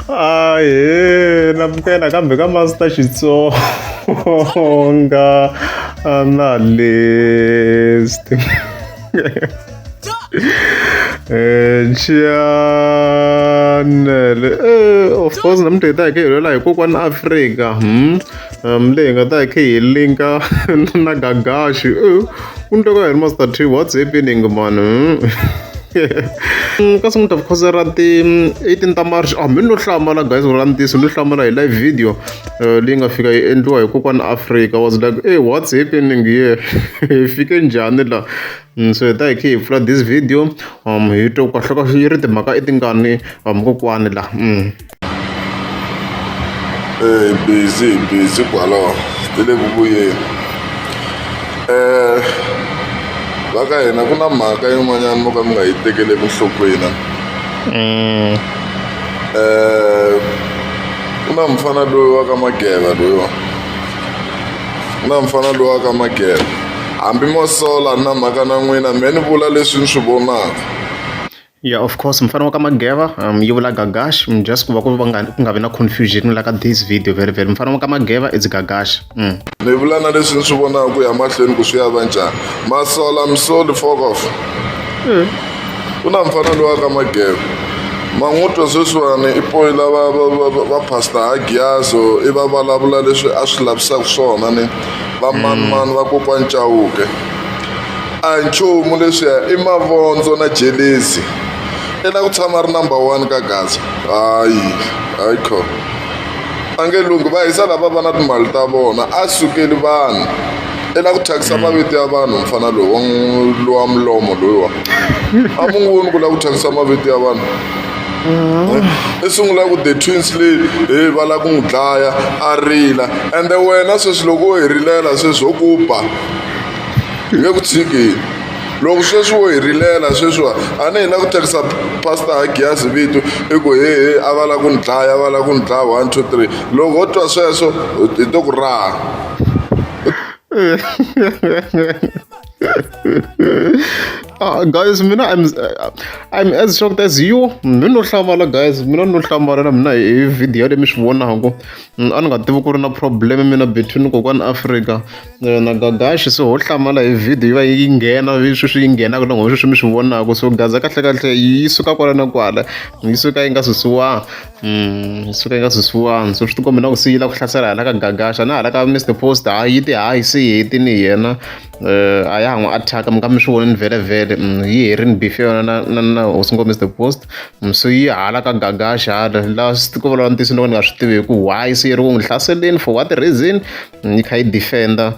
ahe na vuya nakambe ka master xitsonga analyst chianele eh, of course namhlanje ta hi ke hi lwela hi kokwana afrika hmm? Um, leyi nga ta khe hi linka na gagaxi ku ni twa ka hi ri master tree what's happening man hmm, kasi n'wi ta vukhoza ra ti-eighteen ta march a ah, mi no hlamala guys ra ntiso no hlamala hi live video eh, leyi nga fika yi endliwa hi kokwana africa was like hey what's happening here hi fike njhani la hmm, so hi ta hi khe hi pfula this video um hi twa ku kahleka yi ri timhaka i tingani um kokwani la hmm. ee busy busy kwala ti le ku vuyeni um va ka hina ku na mhaka yin'wanyana mo ka mi nga yi tekeli enhlokweni um ku na mufana loyi wa ka mageva loyiwa ku na mufana loyi wa ka mageva hambi mo sola na mhaka na n'wina me ni vula leswi ni swi vonaka Yeah of course mufana wa ka Mageva um yi vula Gagash mm, just ku va ku va nga ku nga vi na confusion la ka this video very very mufana wa ka Mageva it's Gagash mm. ni vula na leswi ni swi vonaka ku ya mahlweni ku swi ya va njhani masola misoli fokof mm. ku na mufana loyi wa ka Mageva man'utwa sweswiwani i poyi lava va pastor hagiyaso i va vulavula leswi a swi lavisaka swona ni vamanimani mm. va kokwani chawuke a hi nchumu leswiya i mavondzo na jelezi i la ku tshama ri number one ka gaza hayi hayi kho a nge lunghi va hisa lava va na timali ta vona a sukeli vanhu i la ku thyakisa mavito ya vanhu mfana lowa lowa mulomo loyiwa a mu n'wi voni ku la ku thyakisa mavito ya vanhu i sungula ku the twins leyi he va la ku n'wi dlaya a rila ende wena sweswi loko wo hi rilela sweswi ho ku ba hi le ku tshikeni loko sweswi wo hi rilela sweswiwa a ni hi na ku tirhisa pastor hagiyazi vito i ku hehe a va la ku ni dlaya a va la ku ni dlaya one two three loko ho twa sweswo hi to ku raha Ah, guys mina I'm, uh, I'm as shocked as you mi no hlamala guys mina no hlamala na mina hi video leyi mi swi vonaka mm, a ni nga tivi ku ri na problem mina between kokwana africa na gagaxi se ho hlamala hi video yi va yi nghena leswi swi yi nghenaka na nghozi swi mi swi vonaka so gaza kahle kahle yi suka kwala na kwala yi suka yi nga susiwanga mm, yi suka yi nga susiwanga so swi ti kombela ku se yi la ku hlasela hala ka gagaxa na hala ka mr post ha yi ti hayi se yi heti ni yena um a ya ha n'wi attack mi ka mi swi vonini vhele vhele mm, yi herini beef ya yona na na hosi ngo mr post mm, so yi hala ka gagaxa hala la swi ti kombela ntiyiso ni loko ni nga swi tivi hi ku why se yi ri ku n'wi hlaseleni for what reason yi kha yi defender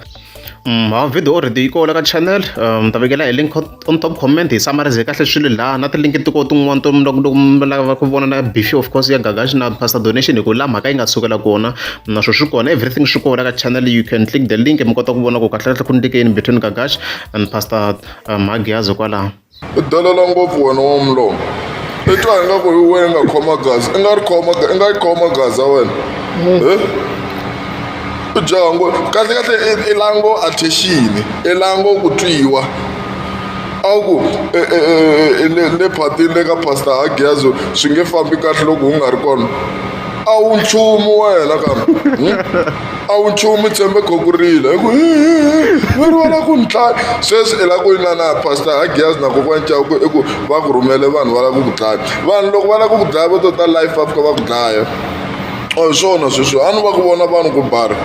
mm, ha video already yi kola ka channel um, ni ta vekela hi link on top comment hi samarize kahle swilo laha na tilink tiko tin'wana to lava ku vona na bifi of course ya gagashi na pastor donation hi ku la mhaka yi nga sukela kona naswo swi kona everything swi kona ka channel you can click the link mi kota ku vona ku kahle kahle ku ndlekeni between gagashi and pastor um, magiazo kwalaho I dolola ngopfu wena wa mulomo. I twa ingaku hi wena i nga khoma gaza, i nga ri khoma i nga yi khoma gaza wena. He? I jaha ngo kahlekahle i i la ngo attention, i la ngo ku twiwa. A wu ku e e e e le le phatini le ka pastor Hagiazo swi nge fambi kahle loko u nga ri kona. a wu nchumu wena kambe hmm? a wu nchumu tshembe khokurile hi ku veri wala ku ni dlaya sweswi i la ku yina na pastor hagias na kokwani cawu ku i ku va ku rhumele vanhu va la ku ku dlaya vanhu loko va la ku ku dlaya va to ta life up ka va ku dlaya a hi swona sweswi a ni va ku vona vanhu ku bari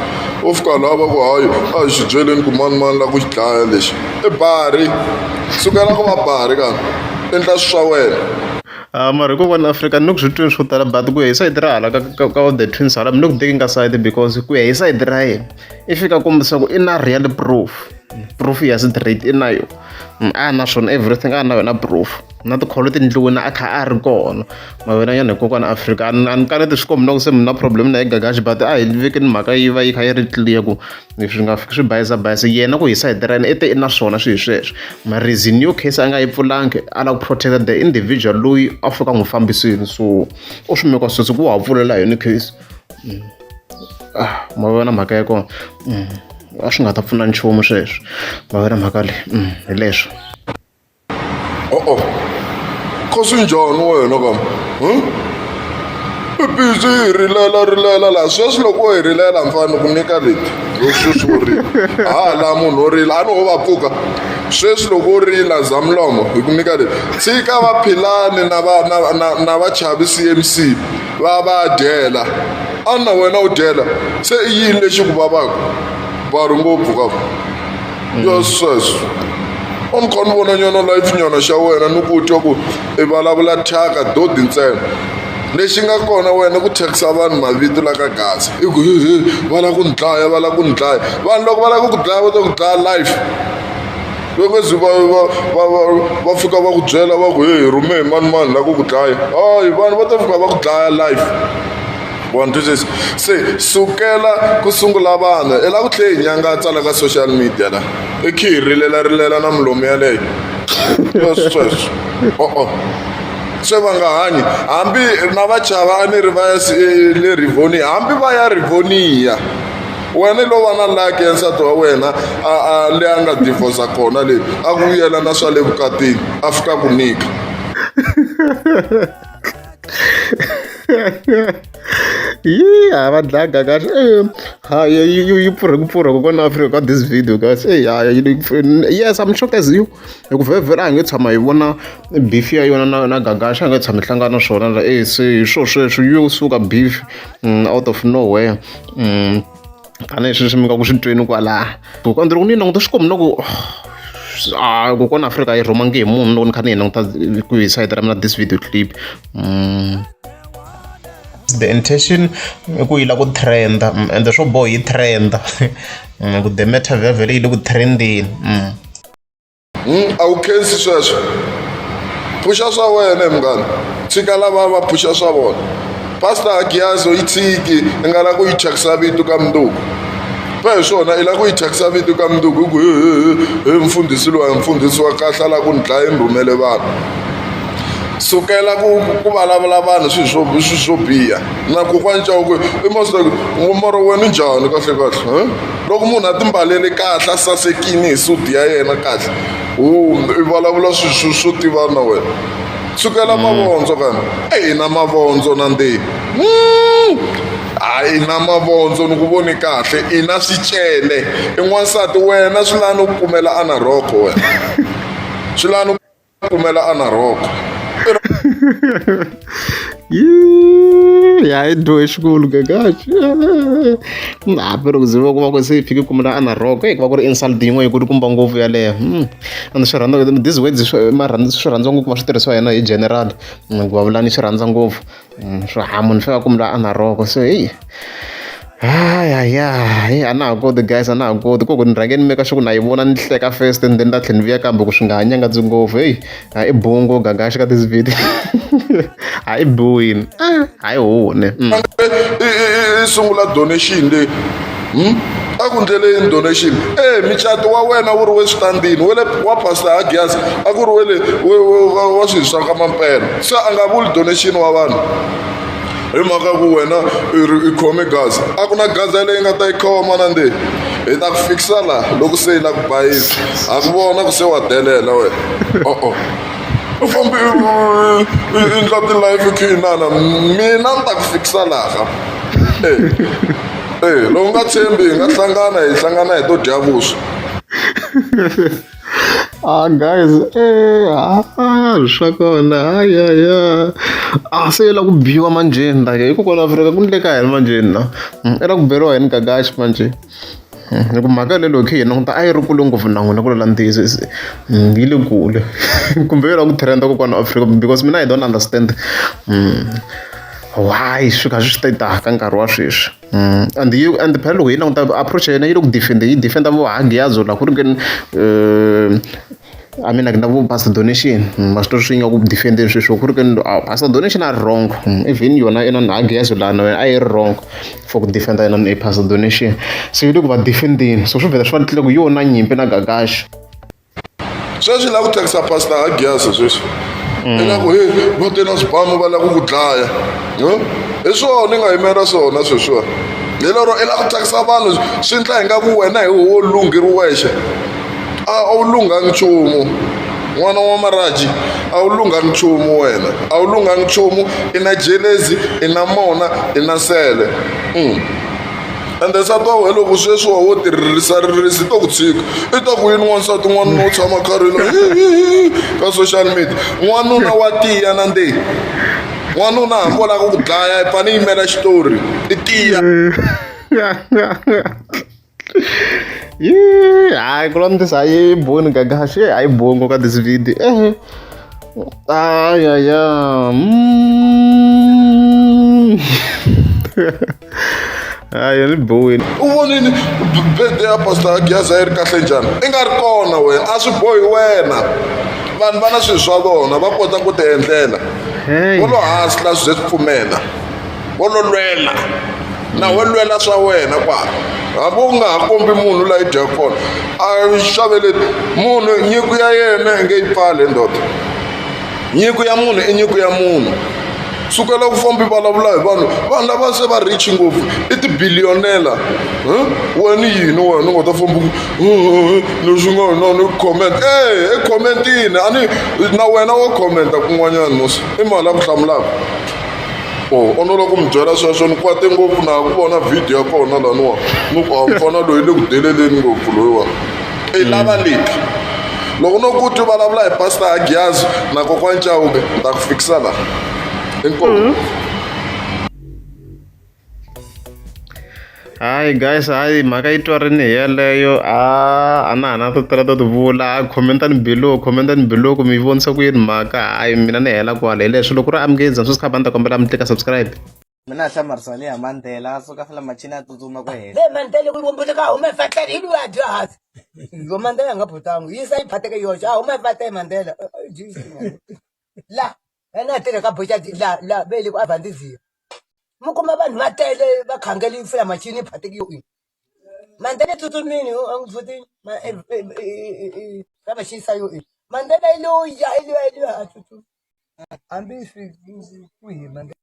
u fika laha va ku hayi a hi swi byeleni ku manimani la ku xi dlaya lexi i bari sukela ku va bari kambe endla swi swa wena A mara hi ku vona Afrika ni ku swi twini swo tala but ku ya hi sayiti ra hala ka ka ka the twins hala mi le ku tekeni ka sayiti because ku ya hi sayiti ra yena i fika kombisa ku i na real proof proof ya straight i na yo a na swona everything a na yona proof na tikholo tindlwini a kha a ri kona mavona yana hi kokwana Afrika a ni a ni kaneti swi kombi na ku se mi na problem na yi gagaxi but a hi vekeni mhaka yi va yi kha yi ri clear ku. leswi nga swi bayisa bayisa yena ku hisa hi ra yena i te i na swona swi hi sweswo mara is in your case a nga yi pfulangi a lava ku protect the individual loyi a fika n'wi fambisini so u swi meka sweswi ku wa ha pfulela yona case mm. ah, ma vona mhaka ya kona mm. a swi nga ta pfuna nchumu sweswo ma vona mhaka leyi mm, hi leswo Uh-oh. Khosi njhani wena kam hmm? i busy hi rilela rilela laha sweswi loko wo hi rilela mfana ku nyika leti sweswi wo rila ha laha munhu wo rila a ni ho va pfuka sweswi loko u rila zamlomo hi ku nyika leti tshika vaphilani na va na na na vachavi cmc va va dyela a na wena u dyela se i yini lexi ku vavaka va ri ngopfu ka yo sweswo wa mi kha ni vona nyana life nyana xa wena ni ku twa ku i vulavula thyaka dodi ntsena lexi nga kona wena ku thyakisa vanhu mavito la ka gaza i ku hehe va lava ku ni dlaya va lava ku ni dlaya vanhu loko va lava ku ku dlaya va ta ku dlaya life vekezi va va va va va fika va ku byela va ku hehe rhume hi mani mani la ku ku dlaya hayi vanhu va ta fika va ku dlaya life vona twisisa se sukela ku sungula vanhu i lava ku tlhe hi nyanga a tsala ka social media la i khi hi rilelarilela na milomu yaleyo yo sweswo o-o se va nga hanyi hambi na vachava a ni ri va ya le rivoni hambi va ya rivoniya wena i lo va na laki ya nsati wa wena a le a nga divosa kona le a ku vuyela na swa le vukatini a fika ku nyika Yee ha va dlaga kahle eh, ha yi yi yi pfurhe ku pfurha kokwana Afrika ka this video guys eh ha yi yes I'm shocked as you hi ku vhevhela a hi nge tshama hi vona beef ya yona na na gagaxa a hi nge tshama hi hlangana swona la eh se hi swo sweswo yo suka beef mm, out of nowhere mm. tanihi sweswi mi nga ku swi tweni kwalaha kokwana ndzi ri ku ni languta swi komi na ku a kokwana afrika yi rhumangi hi munhu loko ni kha ni hi languta ku hi sayiti ra mina this video clip mm. the intention i ku yi la ku trenda mm, ende swo boha yi trenda mm, ku the matter vhevhele yi le ku trendeni Hmm, a wu khensi sweswo pfuxa swa wena munghana tshika lava va pfuxa swa vona pastor agiyazo yi tshiki i nga lava ku yi thyakisa vito ka munduku va hi swona i lava ku yi thyakisa vito ka munduku hi ku hi mfundhisi lowa hi mfundhisi wa kahle a lava ku ni dlaya ni rhumele vanhu sukela ku ku vulavula vanhu swilo swo swilo swo biha na kokwani cawuku i mosmorho wena njhani kahle kahle loko munhu a timbalele kahle a sasekini hi sudi ya yena kahle wo i vulavula swilo swo tivana na wena sukela mm. mavondzo kana eyi na mavondzo na ndzeni mm. hayi na mavondzo ni ku voni kahle i na swicele i n'wansati wena swi lani u kumela anarhoko wena swi lani pfumela a na rhoko ya i dyohe xikulu kakaxi hambi loko ndzi va kuma ku se yi fike kumela a na rhoko eyi ku va ku ri insult yin'wana yi ku ri kumba ngopfu yaleyo hmm. and swi rhandza this words swi rhandza ngopfu va swi tirhisiwa hina hi general ku va vulani swi rhandza ngopfu Mm, swo ha munhu swa ku mi la a na roko so heyi hayaya heyi a na ha koti guys a na ha koti ku ku ni rhange ni meka swa ku na yi vona ni hleka first and then ta tlhela ni vuya kambe ku swi nga ha nyangadzi ngopfu heyi a i bungo gagaxi ka tisivhidi a i biwini a hi hune mm. sungula donation leyi Hmm? a ku ndleleni donation e micato wa wena wu ri we switandini wele wa pastor hagias a ku ri wele wa swilo swa ka mampela se a nga vuli donation wa vanhu hi mhaka ku wena i khome gaza a ku na gaza leyi nga ta yi khoma na nde hi ta ku fikisa laha loko se yi la ku bayisi a ku vona ku se wa delela wena o-o u fambe i ndla ti-life khinana mina ni ta ku fikisa laha e Eh, lowu nga tshembi hi nga hlangana hi hlangana hi to dya vuswa ah guys eh ah swa kona ayaya ah se la ku biwa manjeni la ke hikokwalaho afrika ku ndleka yini manjeni na mm, i la ku beriwa yini gagaxi manje mm, hi ku mhaka lelo khe hi languta a yi ri kule ngopfu na n'wina ku lola ntiyiso mm, yi le kule kumbe yo la ku trenda kokwana afrika because mina i don't understand why swi kha swi swi ta ka nkarhi wa sweswi mm. and you and phela loko hi languta approach ya yena yi le ku defenda yi defenda vo hagiyazo la ku ri keni eh, I mean like na vo pastor donation mm, maswitori swi nga ku defendeni sweswo ku ri keni ah, pastor donation a ri wrong mm, even yona yena na hagiyazo lana wena a yi ri wrong for ku defenda yena ni pastor donation so yi le ku va defendeni so swi vhela swi va tlile ku yona nyimpi na gagaxi sweswi la ku thyakisa pastor agiasa sweswi mm. ingaku he vo te na swibamu va la ku ku dlaya hi swona ni nga yimela swona sweswiwa hi lero i la ku thyakisa vanhu swi ndla hi nga ku wena hi wo lunghi ri wexe a wu lunghangi nchumu n'wana wa maraji a wu lunghangi nchumu wena a wu lunghangi nchumu i na jelezi i na mona i na nsele mm. ende nsati wa wena loko sweswi wa wo tirhisa ririsi i to ku tshika i ta ku yini wansati n'wanuna wo tshama karhilo ka social media n'wanuna wa tiya na ndeyi n'wanuna hambi wo lava ku ku dlaya i fane yimela xitori i tiya hayi ku lwamtisa hayi boni gagashi hayi bongo ka this video ehe ayaya mm. hayi ni biwile u vonile bede ya pastor gyaza yi ri kahle njhani i nga ri kona wena a swi bohi wena vanhu va na swilo swa vona va kota ku tiendlela vo lo hasla swi ze swi pfumela vo lo lwela na we lwela swa wena kwala hambi u nga ha kombi munhu layi dya kona a xavele munhu nyiko ya yena i nge yi pfale ndoda nyiko ya munhu i nyiko ya munhu sukela ku fambi vulavula hi vanhu vanhu lava se va rich ngopfu i tibiliyonela wena yini wena u nga ta fambi leswi nga na ni comment e i commentini a ni na wena wo commenta kun'wanyana musi i mali ya ku hlamulaka o oh, onolo ku mi byela sweswo ni kwate ngopfu na ku vona vhidiyo ya kona laniwa ni ku a mfana loyi le ku deleleni ngopfu loyiwani i lava leti loko no ku ti vulavula hi pastor agiyazi na kokwani cawube ni ta ku fikisa laha inkomu mm -hmm. hayi guys hayi mhaka yi twarini hi yeleyo a a na hana to tala to ti vula hayi commentani below commentani below ku mi vonisa ku yini mhaka hayi mina ni hela kwala hileswi loko ri amukeza sweswi kha ba ni ta kombela mi tlika subscribe mina a hlamarisa leya mandela a suka fela machini a tsutsuma ku hela be mandela ku ngombe ka huma fatela hi lwa dya hasi yo mandela nga phutangu yi sa yi phateke yo ja huma fatela mandela eh, eh, jesus la ene a tirhe ka boxa la la be le ku avandizia mu kuma vanhu va tele va khangeli fela machini phateke yo mandela tsutsumini a ngi futi ma eh, ka va xisa yo mandela yi lo ya yi lo ya yi lo ya tsutsuma hambi swi ku hi mandela